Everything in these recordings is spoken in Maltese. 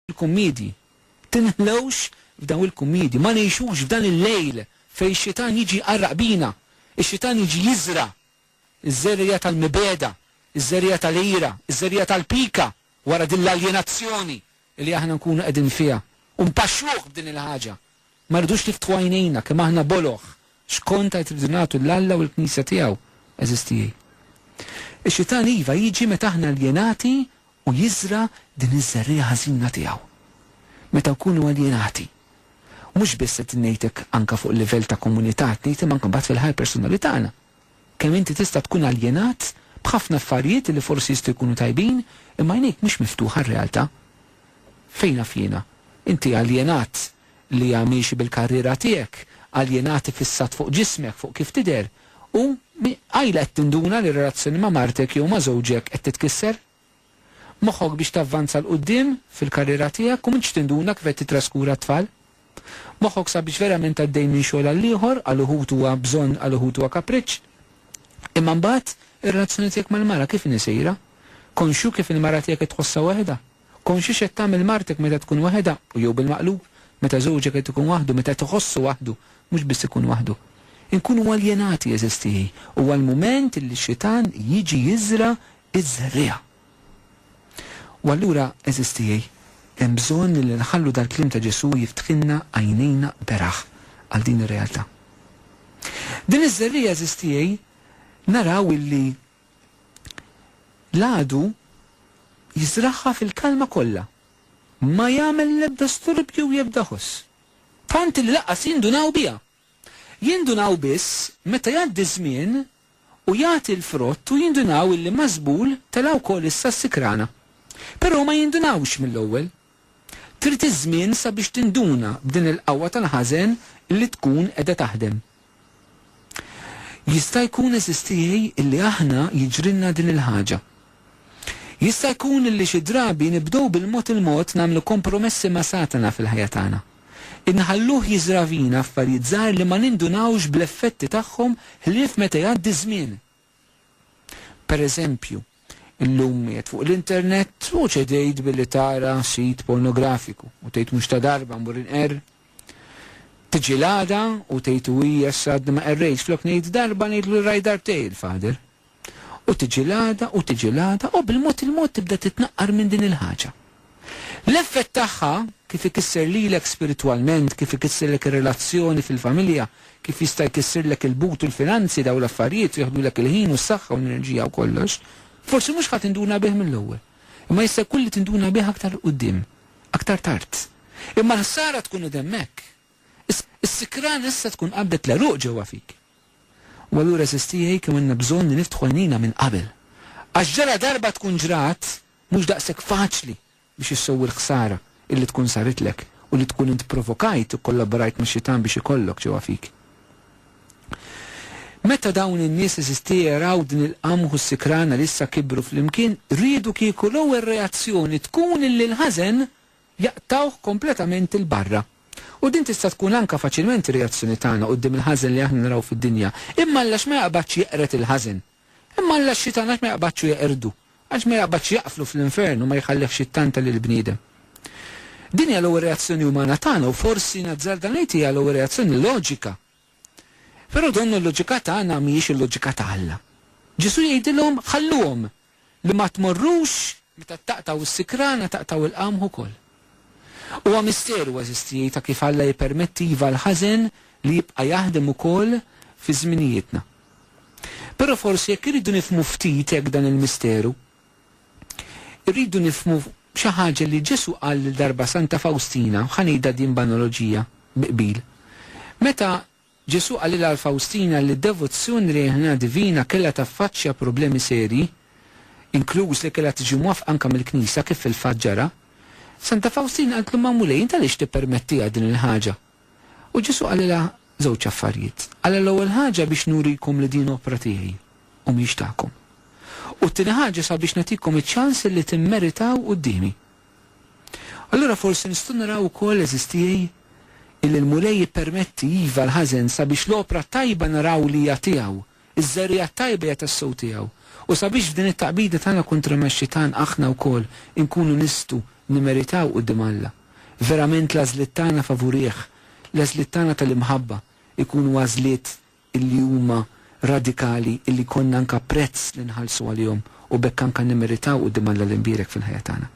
il-kummiedji. Tinħlewx f'dawn il-kummiedji. Ma ngħixux f'dan il-lejl fejn ix-xitan jiġi jqarraq bina. Ix-xitan jiġi jiżra' ż-żerriegħa tal-mibegħda, iż-żerriegħa tal-ira, iż-żerriegħa tal-pika wara din l-aljenazzjoni li aħna nkunu qegħdin fiha u npaxxuh b'din il-ħaġa. Ma rridux niftħu għajnejna kemm aħna boloh, x'kont għid irridu nagħtu 'l Alla u l-Knisja tiegħu, għeżież tiegħi. Ix-Xitan iva jiġi meta aħna aljenati u jiżra' din iż-żerriegħa ħażina tiegħu. Meta nkunu aljenati. Mhux biss qed ngħid hekk anke fuq livell ta' komunità, qed ngħid imma anke mbagħad fil-ħajja personali tagħna. Kemm inti tista' tkun aljenat b'ħafna affarijiet li forsi jistgħu jkunu tajbin, imma għajnejk mhux miftuħa għar-realtà. Fejn naf jiena? Inti aljenat li hija miexi bil-karriera tiegħek, aljenat iffissat fuq ġismek, fuq kif tidher, u qajla qed tinduna li r-relazzjoni ma' martek jew ma' żewġek qed titkisser? moħħok biex tavvanza 'l quddiem fil-karriera tiegħek u m'intx tinduna kif qed tittraskura t-tfal. Moħħok sabiex verament għaddej minn xogħol għall-ieħor, għal uħud huwa bżonn għal uħud huwa kapriċċ. Imma mbagħad ir-relazzjoni tiegħek mal-mara kif inhi sejra? Konxju kif il-mara tiegħek qed tħossha waħedha? Konxju x'qed tagħmel martek meta tkun waħedha u jew bil-maqlub, meta żewġek qed ikun waħdu, meta qed iħossu waħdu, mhux biss ikun waħdu. Inkunu aljenati għeżiż tiegħi. Huwa l-mument li x-xitan jiġi jiżra' iż-żerriegħa. U allura, għeżież tiegħi, hemm bżonn li nħallu dal-kliem ta' Ġesù jiftħilna għajnejna beraħ għal din ir-realtà. Din iż-żerriegħa, għeżież tiegħi, naraw illi l-għadu jiżragħha fil-kalma kollha. Ma jagħmel l-ebda sturbju u jebda ħoss. Tant illi lanqas jindunaw biha. Jindunaw biss meta jgħaddi ż-żmien u jagħti l-frott u jindunaw illi ma' żbul tela' wkoll issa s-sikrana. Però ma jindunawx mill-ewwel. Trid iż-żmien sabiex tinduna b'din il-qawwa tal-ħażen li tkun qiegħda taħdem. Jista' jkun għeżiż tiegħi illi aħna jiġrilna din il-ħaġa. Jista' jkun li xi drabi nibdew bil-mod il-mod nagħmlu kompromessi ma' Satana fil-ħajja tagħna. Inħalluh jiżra' fina affarijiet żgħar li ma nindunawx bl-effetti tagħhom ħlief meta jgħaddi ż-żmien. Pereżempju, illum qiegħed fuq l-internet u ċedejt billi tara sit pornografiku u tgħid mhux ta' darba mmur inqerr. Tiġi l-għada u tgħid uii issa għadni ma qerrejtx flok ngħid darba ngħidlu li rajt darbtejn il-Father. U tiġi l-għada u tiġi l-għada u bil-mod il-mod tibda titnaqqar minn din il-ħaġa. L-effett tagħha, kif ikisser lilek spiritwalment, kif ikissirlek ir-relazzjoni fil-familja, kif jista' jkissirlek il-but u l-finanzi, dawn l-affarijiet jieħdulek il-ħin u s-saħħa u l-enerġija u kollox, forsi mhux ħa tinduna bih mill-ewwel. Imma jista' jkun li tinduna bih aktar 'l quddiem, aktar tard. Imma l-ħsara tkun qed hemmhekk, Is-sikrana issa tkun qabdet l-għeruq ġewwa fik. U allura għeżież tiegħi kemm għandna bżonn li niftħu għajnejna minn qabel. Għax ġala darba tkun ġrat, mhux daqshekk faċli biex issewwi l-ħsara illi tkun saritlek u li tkun int provokajt u kollaborajt max-xitan biex ikollok ġewwa fik. Meta dawn in-nies għeżież tiegħi raw din il-qamħ u s-sikrana li issa kibru flimkien, riedu kieku l-ewwel reazzjoni tkun illi l-ħażen jaqtgħuh kompletament 'il barra. U din tista' tkun anke faċilment ir-reazzjoni tagħna quddiem il-ħażen li aħna naraw fid-dinja. Imma Alla x'ma jaqbadx jeqred il-ħażen. Imma Alla x-xitan għax ma jaqbadx u jeqirdu? Għax ma jaqbadx jaqflu fl-infern u ma jħallihx jittanta lill-bniedem? Din hija l-ewwel reazzjoni umana tagħna u forsi nazzarda ngħid hija l-ewwel reazzjoni loġika Però din il-loġika tagħna mhijiex il-loġika ta' Alla. Ġesù jgħidilhom, Ħalluhom, li ma tmorrux. Meta taqtgħu s-sikrana taqtgħu l-qamħ ukoll. Huwa misteru, għażiż tiegħi, ta' kif Alla jippermetti iva l-ħażen li jibqa' jaħdem ukoll fi żminijietna. Però forsi jekk irridu nifhmu ftit hekk dan il-misteru, Irridu nifhmu xi ħaġa li Ġesù qal lil darba Santa Fawstina, u ħa ngħidha din b'analoġija, bi qbil. Meta Ġesù qalilha għal Fawstina li d-devozzjoni lejn il-ħniena divina kellha taffaċċja problemi serji, inkluż li kellha tiġi mwafqa anke mill-Knisja, kif fil-fatt ġara, Santa Fawstina qaltlu ma' Mulej, int għaliex tippermettiha din il-ħaġa? U Ġesù qalilha żewġ affarijiet. Qalilha l-ewwel ħaġa biex nurikom li din opra tiegħi u mhix tagħkom. U t-tieni ħaġa sabiex nagħtikom iċ-ċans illi timmeritaw quddiemi. Allura forsi nistgħu naraw ukoll, għeżież tiegħi, illi l-Mulej jippermetti, iva, l-ħażen sabiex l-opra tajba naraw li hija tiegħu Iż-żerriegħa t-tajba hija tas-sew tiegħu. U sabiex f'din it-taqbida tagħna kontra max-Xitan aħna wkoll inkunu nistgħu nimmeritaw quddiem Alla, verament l-għażliet tagħna favurih, l-għażliet tagħna tal-imħabba, ikunu għażliet illi huma radikali illi jkollna anke prezz li nħallsu għalihom u b'hekk anke nimmeritaw quddiem Alla l-imbierek fil-ħajja tagħna.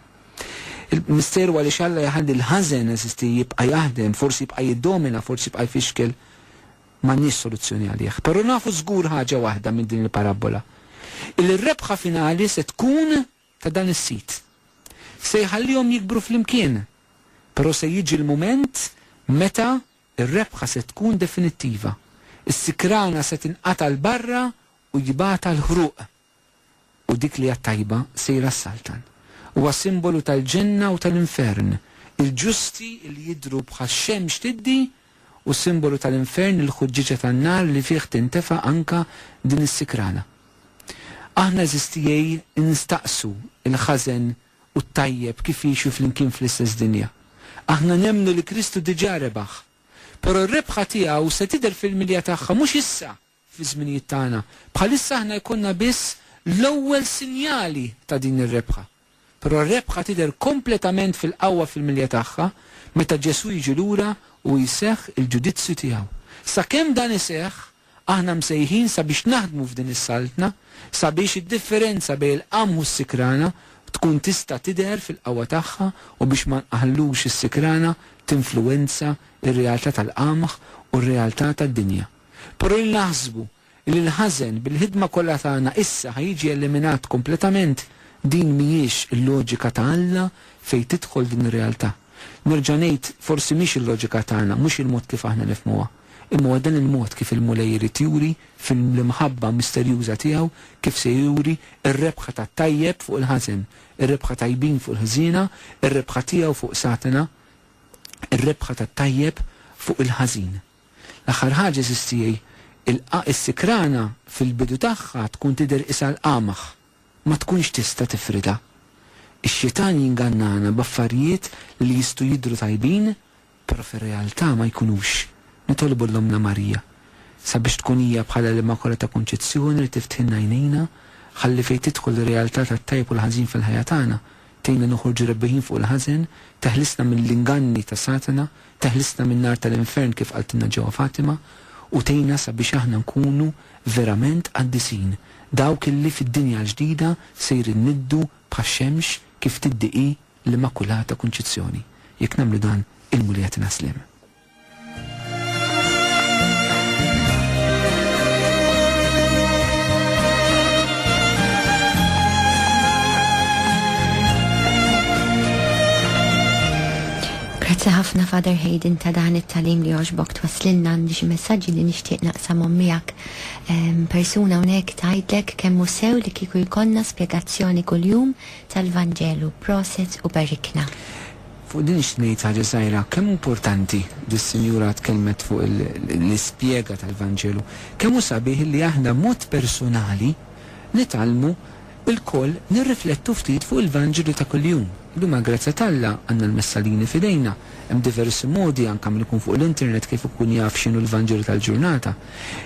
Il-misteru għaliex Alla jħalli l-ħażen, għeżisti, jibqa' jaħdem, forsi jibqa' jiddomina, forsi jibqa' jfixkel, M'għandniex soluzzjoni għalih. Però nafu żgur ħaġa waħda minn din il-parabbola, illi r-rebħa finali se tkun ta' dan is-sid. Se jħallihom jikbru flimkien, però se jiġi l-mument meta r-rebħa se tkun definittiva. Is-sikrana se tinqata' 'l barra u jibgħatha l-ħruq. U dik li hija t-tajba sejra s-Saltan. Huwa simbolu tal-Ġenna u tal-Infern, il-ġusti li jidhru bħax-xemx tiddi, u simbolu tal-Infern, il-ħuġġieġa tan-nar li fih tintefa' anke din is-sikrana. Aħna eżistiej nistaqsu l-ħażen u t-tajjeb kif jgħixu flimkien fl-istess dinja. Aħna nemmnu li Kristu diġà rebaħ. Però r-rebħa tiegħu se tidher fil-milja tagħha mhux issa fiż-żminijiet tagħna. Bħalissa aħna jkollna biss l-ewwel sinjali ta' din ir-rebħa. Però r-rebħa tidher kompletament fil-qawwa fil-milja tagħha meta Ġesù jiġi lura u jseħħ il-ġudizzju tiegħu. Sakemm dan iseħħ, aħna msejħin sabiex naħdmu f'din is-Saltna sabiex id-differenza bejn il-qamħ u s-sikrana tkun tista' tidher fil-qawwa tagħha u biex ma nqaħħlux is-sikrana tinfluwenza r-realtà tal-qamħ u r-realtà tad-dinja. Però li naħsbu li l-ħażen bil-ħidma kollha tagħna issa ħa jiġi eliminat kompletament, din mhijiex il-loġika ta' Alla fejn tidħol din ir-realtà. Nerġa' ngħid, forsi mhix il-loġika tagħna, mhux il-mod kif aħna nifhmuha. Imma huwa dan il-mod kif il-Mulej irid juri, fil-imħabba misterjuża tiegħu, kif se juri r-rebħa tat-tajjeb fuq il-ħażen, ir-rebħa tajbin fuq il-ħżiena, ir-rebħa tiegħu fuq Satana, ir-rebħa tat-tajjeb fuq il-ħażin. L-aħħar ħaġa għażiż tiegħi, is-sikrana fil-bidu tagħha tkun tidher qisha l-qamgħ, ma tkunx tista' tifridha. Ix-xitan jingannana b'affarijiet li jistgħu jidhru tajbin però fir-realtà ma jkunux. Nitolbu l-Ommna Marija sabiex tkun hija bħala l-Immakolata ta' Kunċizzjoni li tifthilna għajnejna ħalli fejn tidħol ir-realtà tat-tajjeb u l-ħażin fil-ħajja tagħna tgħinna noħorġu rebbieħin fuq il-ħażen, teħlisna mill-inganni ta' Satana Teħlisna min-nar tal-infern kif qaltilna ġewwa Fatima u tgħinna sabiex aħna nkunu verament qaddisin, dawk illi fid-dinja l-ġdida sejrin niddu bħax-xemx kif tiddi hi l-Immakulata Kunċizzjoni. Jekk nagħmlu dan, il-Mulej jagħtina sliem. Grazzi ħafna Father Hayden ta dan it tagħlim li jogħġbok twasslilna għandi xi messaġġi li nixtieq naqsamhom miegħek. Persuna hawnhekk tgħidlek kemm hu sew li kieku jkollna spjegazzjoni kuljum tal Vanġelu. Proset u barikna. Fuq din nixtieq ngħid ħaġa żgħira, kemm hu importanti, dis sinjura tkellmet fuq il l ispjega tal Vanġelu, kemm hu sabiħ li aħna b'mod persunali nitgħallmu Ilkoll nirriflettu ftit fuq il-Vanġelu ta' kuljum. Illum għall-grazzja t'Alla, għandna l-messalini f'idejna. Hemm diversi modi, anke min ikun fuq l-internet, kif ikun jaf x'inhu l-Vanġelu tal-ġurnata.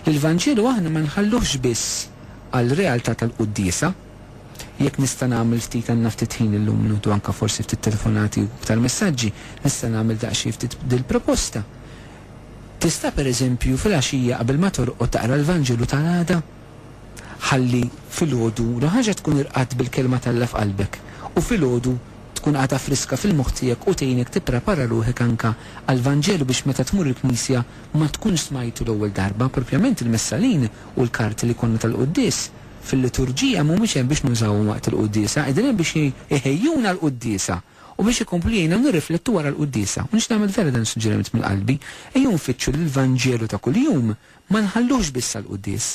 L-Vanġelu aħna ma nħalluhx biss għall-realtà tal-quddiesa. Jekk nista' nagħmel ftit għandna ftit ħin illum nieħdu anke forsi ftit telefonati u iktar messaġġi, nista' nagħmel daqsxejn ftit dil-proposta. Tista' pereżempju fil-għaxija qabel ma torqod taqra l-Vanġelu tal-għada? Ħalli filgħodu l-ewwel ħaġa tkun irqadt bil-Kelma t'Alla f'qalbek u filgħodu tkun għadha friska fil-moħħ tiegħek u tgħinek tipprepara ruħek anke għall-Vanġelu biex meta tmur il-knisja ma tkunx smajtu l-ewwel darba. Propjament il-messalin u l-karti li jkollna tal-quddies fil-liturġija mhumiex hemm biex nużawhom waqt il-quddiesa, qegħdin hemm biex iħejjuna għall-quddiesa u biex ikomplu jgħinna nirriflettu wara l-quddiesa. U nixtieq nagħmel vera dan is-suġġeriment minn qalbi, ejjew nfittxu lill-Vanġelu ta' kuljum Ma nħallux biss għall-quddies,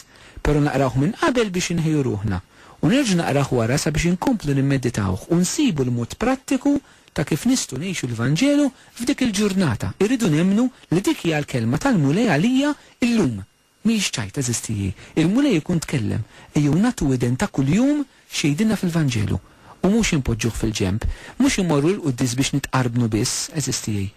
però naqrawh minn qabel biex inħejju ruħna, u nerġa' naqrah wara sabiex inkomplu nimmeditawh u nsibu l-mod prattiku ta' kif nistgħu ngħixu l-Vanġelu f'dik il-ġurnata. Irridu nemmnu li dik hija l-kelma tal-Mulej għalija llum. Mhijiex ċajta, żistijié. Il-Mulej ikun tkellem. Ejjew nagħtu widen ta' kuljum X'jgħidilna fil-Vanġelu? U mhux inpoġġuh fil-ġenb. Mhux immorru l-quddies biex nitqarbnu biss, għeżież tiegħi.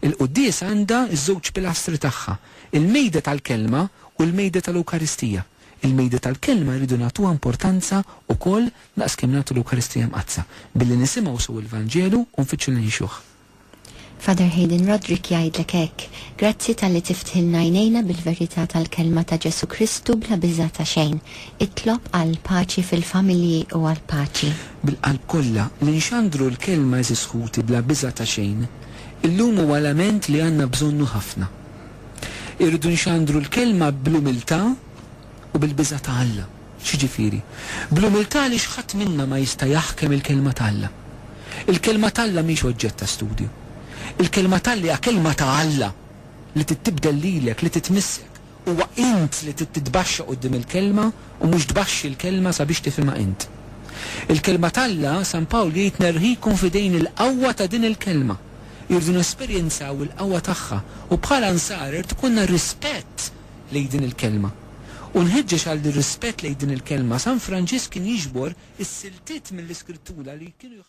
Il-quddiesa għandha ż-żewġ pilastri tagħha, il-Mejda tal-Kelma u l-Mejda tal-Ewkaristija. Il-Mejda tal-Kelma rridu nagħtuha importanza wkoll daqs kemm nagħtu l-Ewkaristija Mqaddsa, billi nisimgħu sew il-Vanġelu u nfittxu li ngħixuh. Father Hayden Roderick jgħidlek hekk, Grazzi talli tiftħilna għajnejna bil-verità tal-Kelma ta' Ġesù Kristu bla biża' ta' xejn. Itlob għall-paċi fil-familji u għall-paċi. Bil-qalb kollha, li nxandru l-Kelma għeżież ħuti bla biża' ta' xejn, illum huwa lament li għandna bżonnu ħafna. Irridu nxandru l-Kelma bl-umiltà u bil-biża' ta' Alla. X'jiġifieri? Bl-umiltà għaliex ħadd minna ma jista' jaħkem il-Kelma t'Alla. Il-Kelma t'Alla mhix oġġett ta' studju. Il-Kelma t'Alla hija Kelma ta' Alla li trid tibdel lilek, li trid tmissek. Huwa int li trid titbaxxa quddiem il-Kelma u mhux tbaxxi l-Kelma sabiex tifhimha int. Il-Kelma t'Alla, San Pawl jgħid nerħikom f'idejn il-qawwa ta' din il-Kelma. Irridu nesperjenzaw il-qawwa tagħha u bħala Nsara jrid ikollna rispett lejn din il-kelma. U nħeġġeġ għal dir-rispett lejn din il-kelma, San Franġisk kien jiġbor is-siltiet mill-Iskrittura li kienu jħallsu.